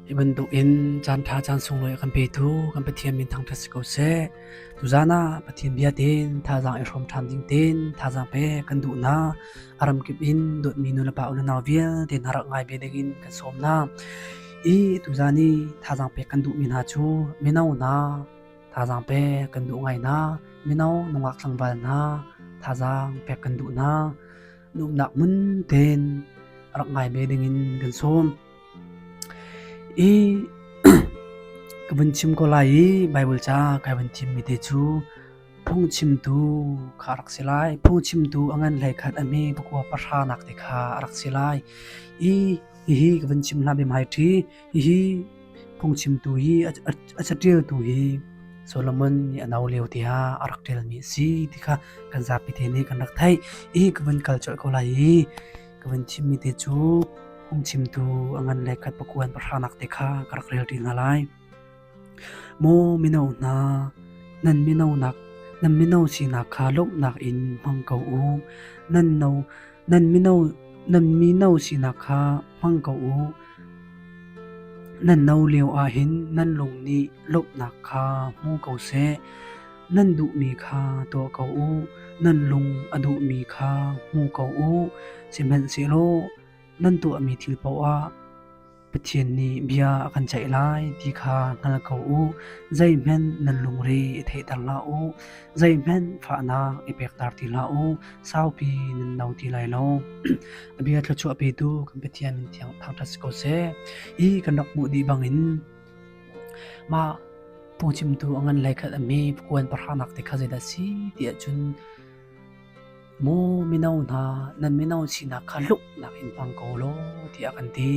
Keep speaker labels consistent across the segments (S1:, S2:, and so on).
S1: Hi bantukin caanṭha caan sunglawi a kan petu kan Pathian min thangṭhat si ko seh. Tuzaan ah Pathian bia tein thazaang i hrawm ṭhan ding tein thazaang pek kan duhnak a ramkip in dawtmi nulepa ununau vialte hna rak ngai ve dingin kan sawm hna. I tuzaan i thazaang pek kan duhmi hna cu mino hna thazaang pek kan duh ngai hna. Mino nungak tlangval hna thazaang pek kan duh hna. Nuamhnak mun tein rak ngai ve dingin kan sawm. I ka vun chim ko lai i Baibal ca kai vun thimmi te cu phungchimtu kha a rak si lai. Phungchimtu a ngan hlei khat a hme pakua pahranak te kha a rak si lai. I hihi ka vun chim hlah bem hai ṭhi. Hihi phungchimtu hi a caṭialtu hi Solomon nih a no lio tiah a rak ṭialmi a si ti kha kan zapi te nih kan rak theih. I ka vun kal colh ko lai i Ka van chimmi te cu phungchimtu a ngan le khat pakuan pahrangnak te kha ka rak relṭi hna lai. Maw mino hna, nan mino nak nan mino sinak kha lawmhnak in hmang ko u. Nan no nan mino nan mino sinak kha hmang ko u. Nan no lio ah hin nan lung nih lawmhnak kha hmu ko seh. Nan duhmi kha tuah ko u, nan lung a duhmi kha hmu ko u, sihmanhsehlaw nan tuahmi thil paohah Pathian nih bia a kan ceih lai ti kha hngal ko u. Zeihmanh nan lungre i theihter hlah u, zeihmanh fahnak i pekter ti hlah u. Saupi nan no ti lai lo. A bia thluachuahpetu kan Pathian min thiang thangṭhat si ko seh. Hi kan rak hmuh dih bangin Mah pungcimtu a ngan lei khat a mi puan pahranak te kha zeidah si ti ahcun mu mino hna nan mino sinak kha hluknak in hmang ko law tiah kan ti.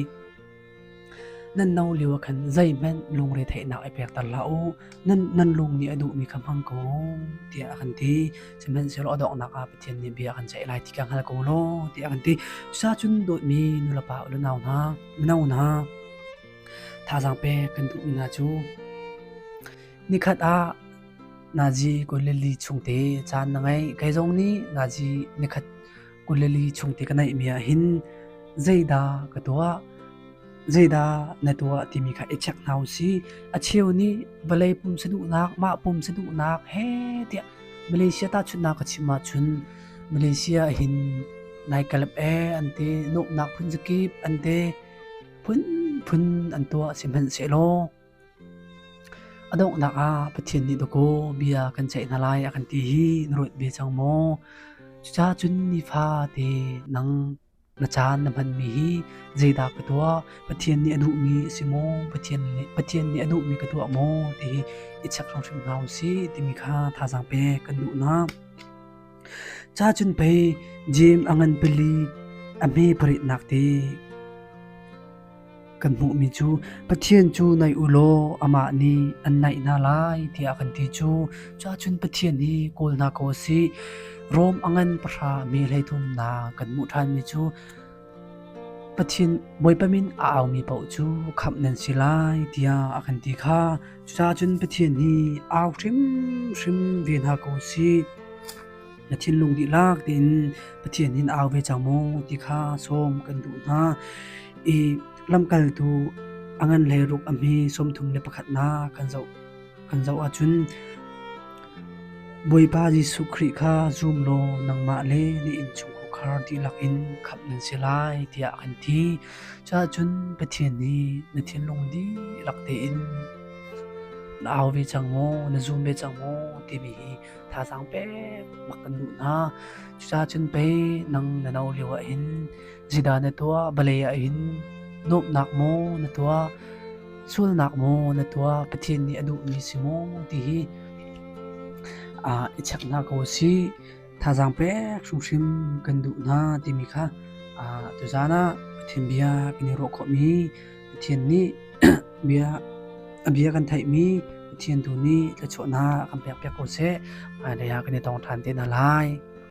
S1: Nan no lio ah khan zeihmanh lungre theihnak i pekter hlah u. Nan, nan lung nih a duhmi kha hmang ko tiah a kan ti. Sihmanhsehlaw a donghnak ah Pathian nih bia a kan ceih lai ti ka hngal ko law tiah a kan ti. Cucacun dawtmi nulepa u le nau hna, mino hna, Thazaang pek kan duh na cu nikhat ah nazi kuleli chungte caan na ngei kei zong nih nazi nikhat kuleli chungte ka neih mi ah hin zeidah ka tuah zeidah na tuah timi kha i check hna u si a cheu nih vawlei pum saduhnak mah pum saduhnak he tiah malaysia ta chunna ka chim ah chun malaysia hin nai kalep e ante noknak phun zakip ante phunphun an tuah sihmanhsehlaw a donghnak ah Pathian nih dawkaw bia kan ceih hna lai a kan ti hi na ruat ve cang maw cuca cun nifa te nang na caan na hmanmi hi zeidah ka tuah pathian nih a duhmi a si maw pathian le pathian nih a duhmi ka tuah maw ti i i chek hrimhrim hna u si timi kha thazaang pek kan duhnak Ca cun pei Jeim a ngan pali a hme paritnak te. Kan hmuhmi cu Pathian cu nai u law amah nih an naih hna lai tiah kan ti cu cun Pathian hi kawlnak aw a si. Rom a ngan pahra me hleithumnak kan hmuh ṭhanmi cu Pathin Bawipa min a aumi paoh cu khamh nan si lai tiah a kan ti kha cucaahcun Pathian hi au hrimhrim ve hna ko sih. Na thinlung dihlak tein Pathian in au ve cang maw ti kha sawm kan duh hna i lamkaltu a ngan le ruk a hme sawmthum le pakhatnak kan zoh. an zoh ahcun Bawipa Jesuh Khrih kha zum law nangmah le na innchungkhar dihlak in khamh nan si lai tiah a kan ti. Cuahcun Pathian nih na thinlung dihlak tein na au ve cang maw, na zum ve cang maw timi hi thazaang pek bak kan duh hna. Cucacun pei nang na no lio ah hin Zidah na tuah vale ah hin nuamhnak maw na tuah sualnak maw na tuah Pathian nih a duhmi si maw ti hi ah i cheknak ko si thazang pek hrimhrim kan duh hna timi kha ah tuzan ah Pathian bia kan i ruah khawhmi Pathian nih bia a bia kan theihmi Pathian tu nih thluachuahnak kan pek piak ko seh hmailei ah kan i tong ṭhan te hna lai